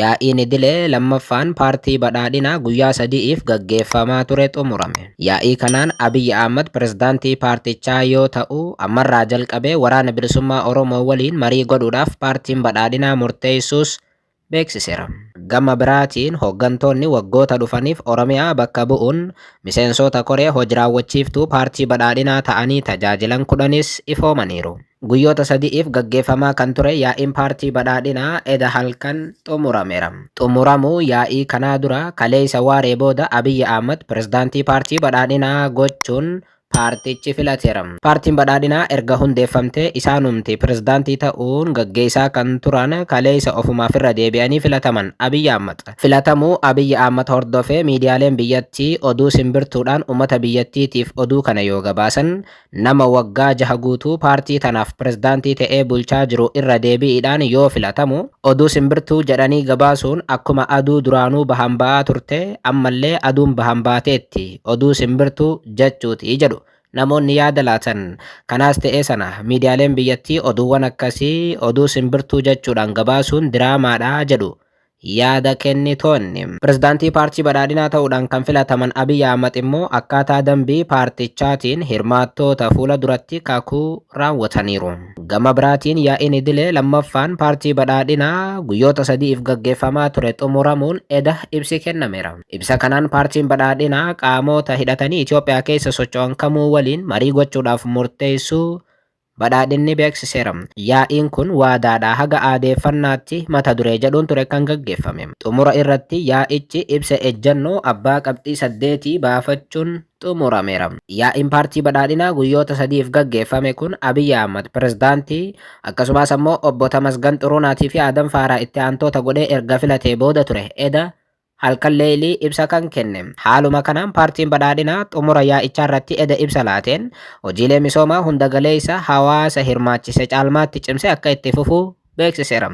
Yaa'iin idilee 2ffaan Paartii Badhaadhinaa guyyaa 3'f gaggeeffamaa ture xumurame. Yaa'ii kanaan Abiy Ahmad Pirezidaantii paartichaa yoo ta'u, ammarraa jalqabee Waraana Bilisummaa Oromoo waliin marii godhuudhaaf Paartiin Badhaadhinaa murteessuus beeksiseera. Gama biraatiin hoggantoonni waggoota dhufaniif Oromiyaa bakka bu'uun miseensoota koree hoj-raawwachiiftuu Paartii Badhaadhinaa ta'anii tajaajilan 10s ifoomaniiru. Guyyoota sadi'iif gaggeeffamaa kan ture yaa'iin paartii badhaadhinaa eda halkan xumurameera. Xumuramuu yaa'ii kanaa dura kaleessa waaree booda Abiyyi Ahmad pirezidaantii paartii badhaadhinaa gochuun paartichi filateera. Paartiin badhaadhinaa erga hundeeffamtee isaanumti pirezidaantii ta'uun gaggeessaa kan turan kaleessa ofumaaf irra deebi'anii filataman Abiyyi Ahmad. Filatamuu Abiyyi Ahmad hordofee miidiyaaleen biyyattii oduu simbirtuudhaan ummata biyyattiitiif oduu kana yoo gabaasan, Nama waggaa jaha guutuu paartii tanaaf pirezidaantii ta'ee bulchaa jiru irra deebi'iidhaan yoo filatamu, oduu simbirtuu jedhanii gabaasuun akkuma aduu duraanuu bahaan ba'aa turte ammallee aduun bahaan baateetti, oduu simbirtuu jachuuti jedhu namoonni yaada laatan. Kanaas ta'ee sana, miidiyaaleen biyyattii oduuwwan akkasii oduu simbirtuu jachuudhaan gabaasuun diraamaadha jedhu yaada kennitoonni. Pirezidaantii Paartii Badhaadhinaa ta'uudhaan kan filataman Abiy Ahmad immoo akkaataa dambii paartichaatiin hirmaattoota fuula duratti kakuu raawwataniiru. Gama biraatiin yaa'iin idilee 2ffaan Paartii Badhaadhinaa guyyoota sadi'iif gaggeeffamaa ture xumuramuun eda ibsi kennameera. Ibsa kanaan Paartiin Badhaadhinaa qaamoota hidhatanii Itoophiyaa keessa socho'an kamuu waliin marii gochuudhaaf murteessuu Badhaadhinni beeksiseera. Yaa'iin kun waadaadhaa haga aadeeffannaatti mata duree jedhuun ture kan gaggeeffame. Xumura irratti yaa'ichi ibsa ejjannoo abbaa qabxii saddeetii baafachuun xumurameera. Yaa'iin Paartii Badhaadhinaa guyyoota sadiif gaggeeffame kun Abiy Ahmad Pirezidaantii, akkasumaas ammoo Obbo Tamasgan Xuruunaatii fi Aadam Faaraah itti aantoota godhee erga filatee booda ture. Eda. halkan leeylii ibsa kan kenne. Haaluma kanaan Paartiin Badhaadhinaa xumura yaa'ichaarratti eda ibsa laateen, hojiilee misoomaa hunda galeeysa hawaasa hirmaachise caalmaatti cimsee akka itti fufu beeksiseera.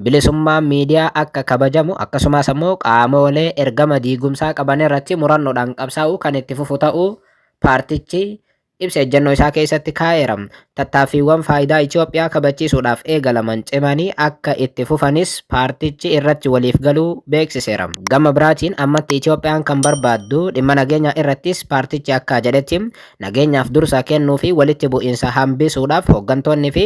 Bilisummaan miidiyaa akka kabajamu akkasumaas ammoo qaamoolee ergama diigumsaa qabanirratti murannoodhaan qabsaa'uu kan itti fufu ta'uu paartichi ibsa ejjennoo isaa keessatti kaa'eera. Tattaaffiiwwan faayidaa Itiyoophiyaa kabachiisuudhaaf eegalaman cimanii akka itti fufanis paartichi irratti waliif galuu beeksiseera. Gama biraatiin ammatti Itiyoophiyaan kan barbaaddu dhimma nageenyaa irrattis paartichi akka jedhetti nageenyaaf dursa kennuu fi walitti bu'iinsa hambisuudhaaf hoggantoonni fi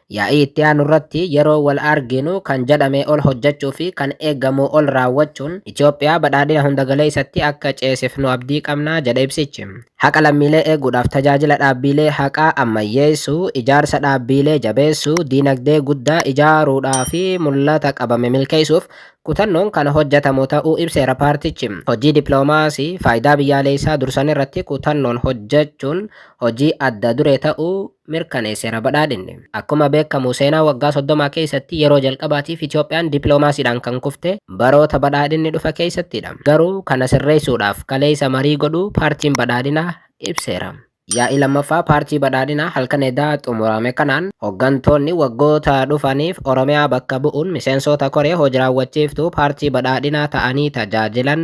Yaa'ii itti aanu irratti yeroo wal arginu kan jedhamee ol hojjechuu fi kan eegamuu ol raawwachuun Itiyoophiyaa badhaadhina hundagaleessatti akka ceesifnu abdii qabna jedhe ibsichi. Haqa lammiilee eeguudhaaf tajaajila dhaabbiilee haqaa ammayyeessuu, ijaarsa dhaabbiilee jabeessuu, diinagdee guddaa ijaaruudhaa fi mul'ata qabame milkeessuuf kutannoon kan hojjetamu ta'uu ibseera paartichi. Hojii dippiloomaasii faayidaa biyyaaleessaa dursanirratti kutannoon hojjechuun hojii adda duree ta'uu mirkaneesseera badhaadhinni. Akkuma beekamu seenaa waggaa 30 keessatti yeroo jalqabaatiif Itoophiyaan dippiloomaasiidhaan kan kufte baroota badhaadhinni dhufe keessattidha. Garuu kana sirreessuudhaaf kaleessa marii godhuu paartiin badhaadhinaa ibseera. Yaa'ii 2ffaa paartii badhaadhinaa halkan edaa xumurame kanaan hoggantoonni waggoota dhufaniif Oromiyaa bakka bu'uun miseensoota koree hojiraawwachiiftuu paartii badhaadhinaa ta'anii tajaajilan,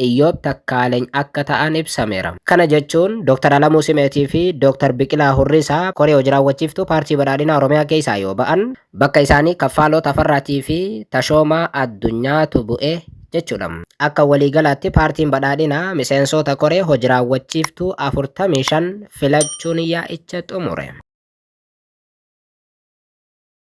Iyyoob Takkaaleny akka ta'an ibsameera. Kana jechuun Dr. Alamuu Simeetii fi Dr. Biqilaa Hurrisaa koree hojiraawwachiiftuu Paartii Badhaadhinaa Oromiyaa keessaa yoo ba'an, bakka isaanii Kaffaaloo Tafarraatii fi Tashoomaa Addunyaatu bu'e jechuudha. Akka waliigalaatti Paartiin Badhaadhinaa miseensoota koree hojiraawwachiiftuu 45 filachuun yaa'icha xumure.